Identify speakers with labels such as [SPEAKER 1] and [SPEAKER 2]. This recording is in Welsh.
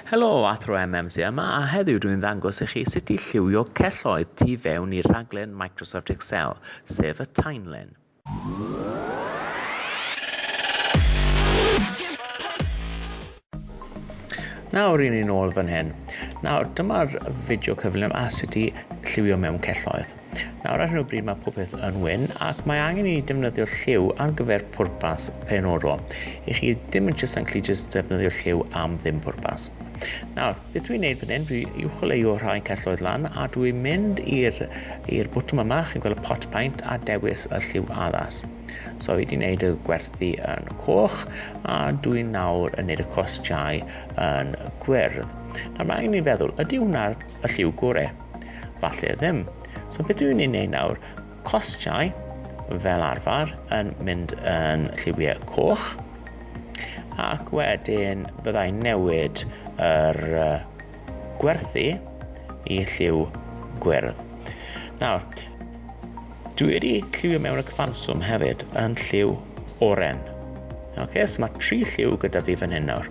[SPEAKER 1] Helo, Athro MMC yma a heddiw dwi'n ddangos i chi sut i lliwio celloedd tu fewn i rhaglen Microsoft Excel, sef y timeline. Nawr rydyn ni'n ôl fan hyn. Nawr dyma'r fideo cyflym a sut i lliwio mewn celloedd. Nawr ar hyn o bryd mae popeth yn wyn ac mae angen i ni defnyddio lliw ar gyfer pwrpas penodol. I chi ddim yn just ancli just defnyddio lliw am ddim pwrpas. Nawr, beth dwi'n neud fan hyn, fi uwcholeuo rhai celloedd lan a dwi'n mynd i'r bwtwm yma, chi'n gweld y pot paint a dewis y lliw addas. So fi wedi gwneud y gwerthu yn coch a dwi'n nawr yn gwneud y cosjau yn gwyrdd. Nawr mae angen i ni feddwl, ydy hwnna'r lliw gorau? Falle ddim. So beth yw'n ei wneud nawr? Costiau, fel arfer, yn mynd yn lliwiau coch, ac wedyn byddai newid yr gwerthu i lliw gwyrdd. Nawr, dwi wedi lliwio mewn y cyfanswm hefyd yn lliw oren. Oce, okay, so mae tri lliw gyda fi fan hyn nawr.